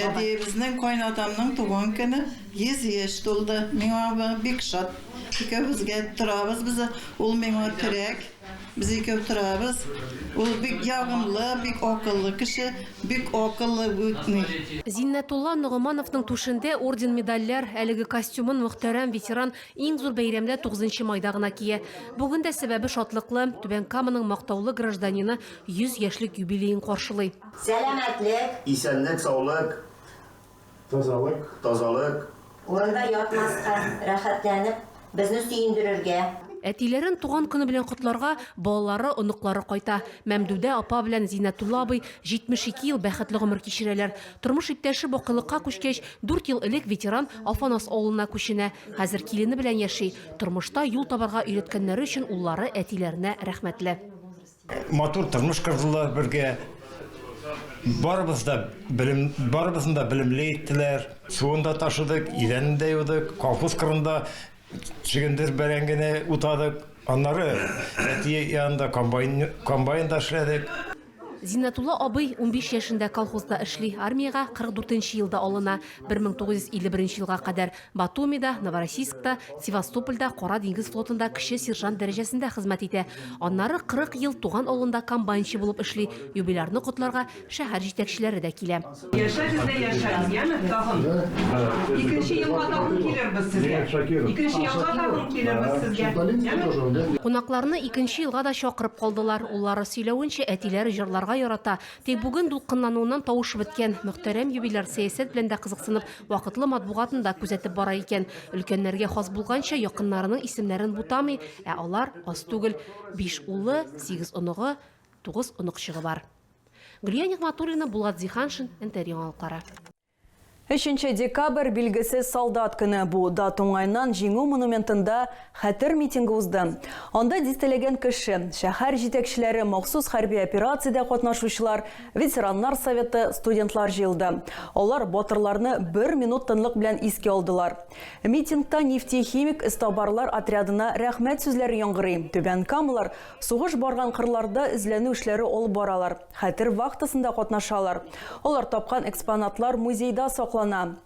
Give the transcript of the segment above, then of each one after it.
Әбиебезнең кайнатамның туган көне 100 яшь тулды. Миңа бу бик шат. Икәүбезгә торабыз без. Ул миңа терәк. Без икәү торабыз. Ул бик ягымлы, бик акыллы кеше. Бик акыллы үтми. Зиннәтулла Ногомановның түшендә орден-медальләр, әлеге костюмын мөхтәрәм ветеран иң зур бәйрәмдә, 9 майда гына кия. Бүген дә сәбәбе шатлыклы, Түбән Каманың мактаулы гражданины 100 яшьлек юбилеен каршылый. Сәламәтлек. Исәнлек, саулык. Тазалык. Тазалык. Урында ятмаска, рәхәтләнеп, безне сөендерергә. Әтиләрен туган көне белән котларга балалары, оныклары кайта. Мәмдүдә апа белән Зиннәтулла абый 72 ел бәхетле гомер кичерәләр. Тормыш иптәше бакыйлыкка күчкәч, дүрт ел элек ветеран Афанас авылына күченә. Хәзер килене белән яши. Тормышта юл табарга өйрәткәннәре өчен уллары әтиләренә рәхмәтле. Матур тормыш кордылар бергә. Барыбыз да белем, барыбызны да белемле иттеләр. Суын да ташыдык, идәнен дә юдык, колхоз кырында чөгендер бәрәңгене утадык. Аннары әти янында комбайн, комбайнда эшләдек. Зиннәтулла абый унбиш яшендә колхозда эшли, армиягә 44 нче елда алына, 1951 елга кадәр Батумида, Новороссийскта, Севастопольдә Кара диңгез флотында кече сержант дәрәҗәсендә хезмәт итә. Аннары 40 ел туган авылында комбайнчы булып эшли. Юбилярны котларга шәһәр җитәкчеләре дә килә. Яшәгез дә яшәгез, яме, тагын икенче елга тагын килербез сезгә, икенче елга тагын килербез сезгә, яме. Кунакларны икенче елга да чакырып калдылар. Уллары сөйләвенчә, әтиләре җырларга ярата, Тик бүген дулкынлануыннан тавышы беткән мөхтәрәм юбиляр сәясәт белән дә кызыксынып, вакытлы матбугатын да күзәтеп бара икән. Өлкәннәргә хас булганча, якыннарының исемнәрен бутамый, ә алар аз түгел, биш улы, сигез оныгы, тугыз оныкчыгы бар. Гөлия Нигъмәтуллина, Булат Зиһаншин, НТР яңалыклары. Өченче декабрь, билгесез солдат көне. Бу дат уңаеннан Җиңү монументында Хәтер митингы узды. Анда дистәләгән кеше, шәһәр җитәкчеләре, махсус хәрби операциядә катнашучылар, ветераннар советы, студентлар җыелды. Алар батырларны бер минут тынлык белән искә алдылар. Митингта нефтехимик эзтабарлар отрядына рәхмәт сүзләре яңгырый. Түбән камалар сугыш барган кырларда эзләнү эшләре алып баралар. Хәтер вахтасында катнашалар. Алар тапкан экспонатлар музейда саклана.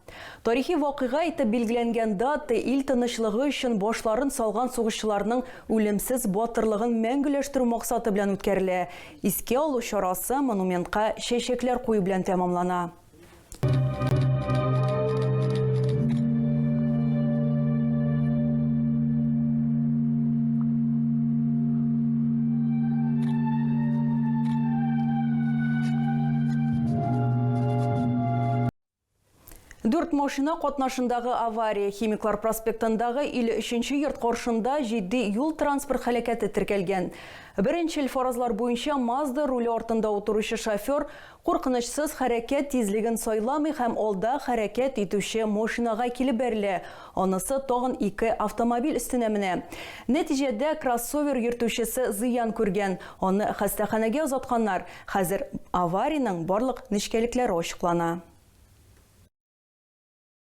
Тарихи вакыйга итеп билгеләнгән дата ил тынычлыгы өчен башларын салган сугышчыларның үлемсез батырлыгын мәңгеләштерү максаты белән үткәрелә. Искә алу чарасы монументка чәчәкләр кую белән тәмамлана. Дүрт машина катнашындагы авария Химиклар проспектындагы 53-нче йорт коршында җитди юл транспорт халәкәте теркәлгән. Беренчел фаразлар буенча Мазда руле артында утыручы шофер Куркынычсыз хәрәкәт тизлеген сайламый һәм алда хәрәкәт итүче машинага килеп бәрелә, анысы тагын ике автомобиль өстенә менә. Нәтиҗәдә кроссовер йөртүчесе зыян күргән, аны хастаханәгә озатканнар, хәзер авариянең барлык нечкәлекләре ачыклана.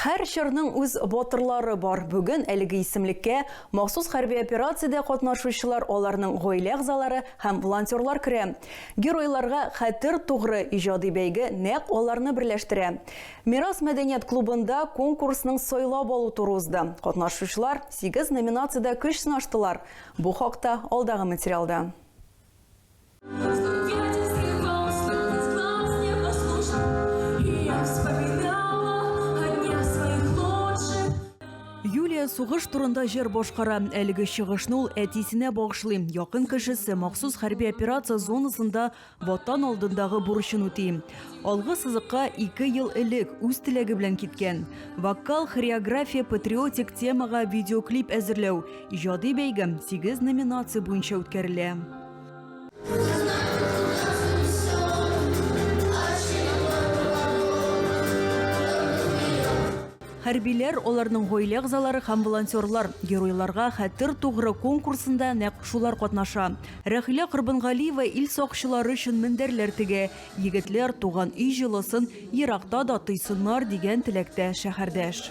Һәр чорның үз батырлары бар. Бүген әлеге исемлеккә махсус хәрби операциядә катнашучылар, аларның гаилә әгъзалары һәм волонтерлар керә. Геройларга хәтер тугры иҗади бәйге нәкъ аларны берләштерә. Мирас мәдәният клубында конкурсның сайлап алу туры узды. Катнашучылар сигез номинациядә көч сынаштылар. Бу хакта алдагы материалда. Юлия сугыш турында җыр башкара. Әлеге чыгышны ул әтисенә багышлый. Якын кешесе махсус хәрби операция зонасында ватан алдындагы бурычын үти. Алгы сызыкка ике ел элек үз теләге белән киткән. Вокал, хореография, патриотик темага видеоклип әзерләү, иҗади бәйге 8 номинация буенча үткәрелә. Хәрбиләр, аларның гаилә әгъзалары һәм волонтерлар Геройларга хәтер тугры конкурсында нәкъ шулар катнаша. Рәхилә Корбангалиева ил сакчылары өчен мендәрләр тегә. Егетләр туган өй җылысын еракта да тойсыннар дигән теләктә шәһәрдәш.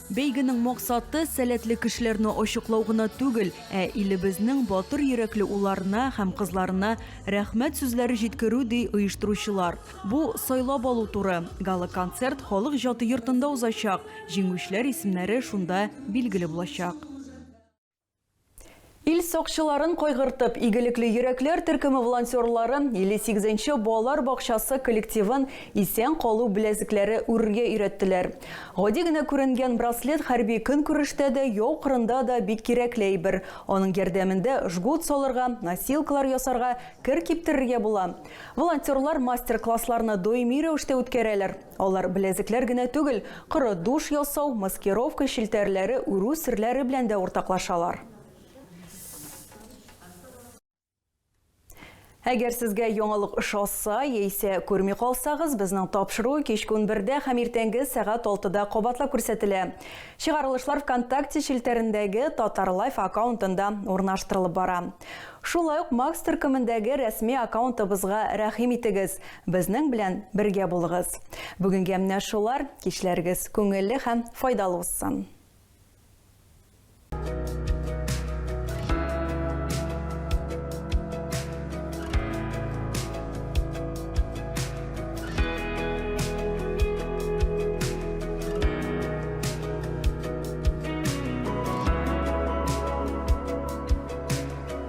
Бәйгенең максаты, сәләтле кешеләрне ачыклау гына түгел, ә илебезнең батыр йөрәкле уларына һәм кызларына рәхмәт сүзләре җиткерү, ди оештыручылар. Бу, сайлап алу туры. Гала-концерт Халык иҗаты йортында узачак, җиңүчеләр исемнәре шунда билгеле булачак. Ил сакчыларын кайгыртып, игелекле йөрәкләр төркеме волонтерлары 58 нче балалар бакчасы коллективын исән калу беләзекләре үрергә өйрәттеләр. Гади генә күренгән браслет хәрби көнкүрештә дә, яу кырында да бик кирәкле әйбер. Аның ярдәмендә жгут салырга, носилкалар ясарга, кер киптерергә була. Волонтерлар мастер-классларны даими рәвештә үткәрәләр. Алар беләзекләр генә түгел, коры душ ясау, маскировка, челтәрләре үрү серләре белән дә уртаклашалар. Әгәр сезгә яңалык ошаса, яисә күрми калсагыз, безнең тапшыру кичке унбердә һәм иртәнге сәгать алтыда кабатлап күрсәтелә. Чыгарылышлар ВКонтакте челтәрендәге Татарлайф аккаунтында урнаштырылып бара. Шулай ук Макс төркемендәге рәсми аккаунтыбызга рәхим итегез. Безнең белән бергә булыгыз! Бүгенгә менә шулар, кичләрегез күңелле һәм файдалы узсын!